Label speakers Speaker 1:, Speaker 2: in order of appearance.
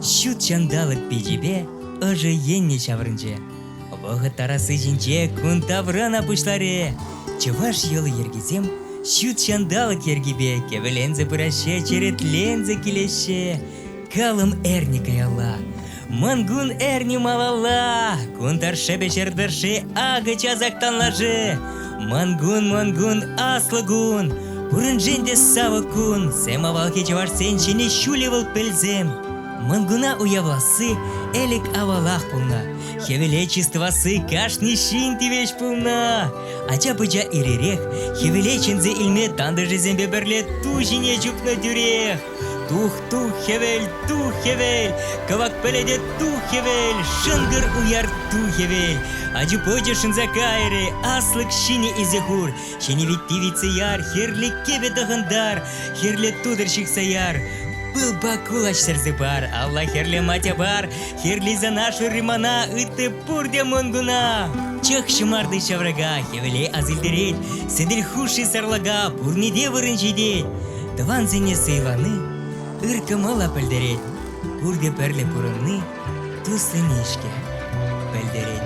Speaker 1: Ҫут ҫанталӑк пичӗпе ӑшӑ енне ҫаврӑнчӗ. Вӑхӑт тарасси ҫинче кун таврана пуҫларӗ. Чӑваш йӑли-йӗркисем ҫут ҫанталӑк йӗркипе кӗвӗленсе пыраҫҫӗ, черетленсе килеҫҫӗ. Калӑм эрне каялла Мӑнкун эрни малалла, кун тӑршшӗпе ҫӗр тӑршши акӑ часах танлашӗ. Мӑнкун, мӑнкун, аслӑ кун, пуриншен те савӑк кун. Сем авалхи чӑвашсен ҫине ҫулӗ вӑл пӗлсем. Мӑнкуна уявласси ӗлӗк авалах пулнӑ. Хӗвеле чыс тӑвасси кашни ҫын тивӗҫ пулнӑ. Ача-пӑча ир-ирех хӗвеле чӗнсе илме тантӑшӗсемпе пӗрле ту ҫине чупнӑ тӳрех. Тух, тух, хӗвел, тух, хӗвел, кӑвак пӗлӗте тух, хӗвел, шӑнкӑр уяр тух, хӗвел. Ачу-пӑчу шӑнса кайрӗ, аслӑк ҫине илсе хур. Ҫӗнӗ вит пивице яр, хӗрлӗ кӗвӗ тӑхӑнтар, хӗрлӗ тутӑр ҫыхса яр. Пыл пак кулач сӗрсе пар, алла хӗрлӗ матя пар, хӗрлисана шырри мана, ытти пурте мӑнкуна. Чӑх ҫӑмарти ҫаврака, хӗвеле асилтерет, сӗтел хушши сарлака, пурне те вырӑн ҫитет. Тӑвансене сӑйлани ыр кӑмӑла пӗлтерет, пурте пӗрле пурӑнни туссене-ҫке пӗлтерет.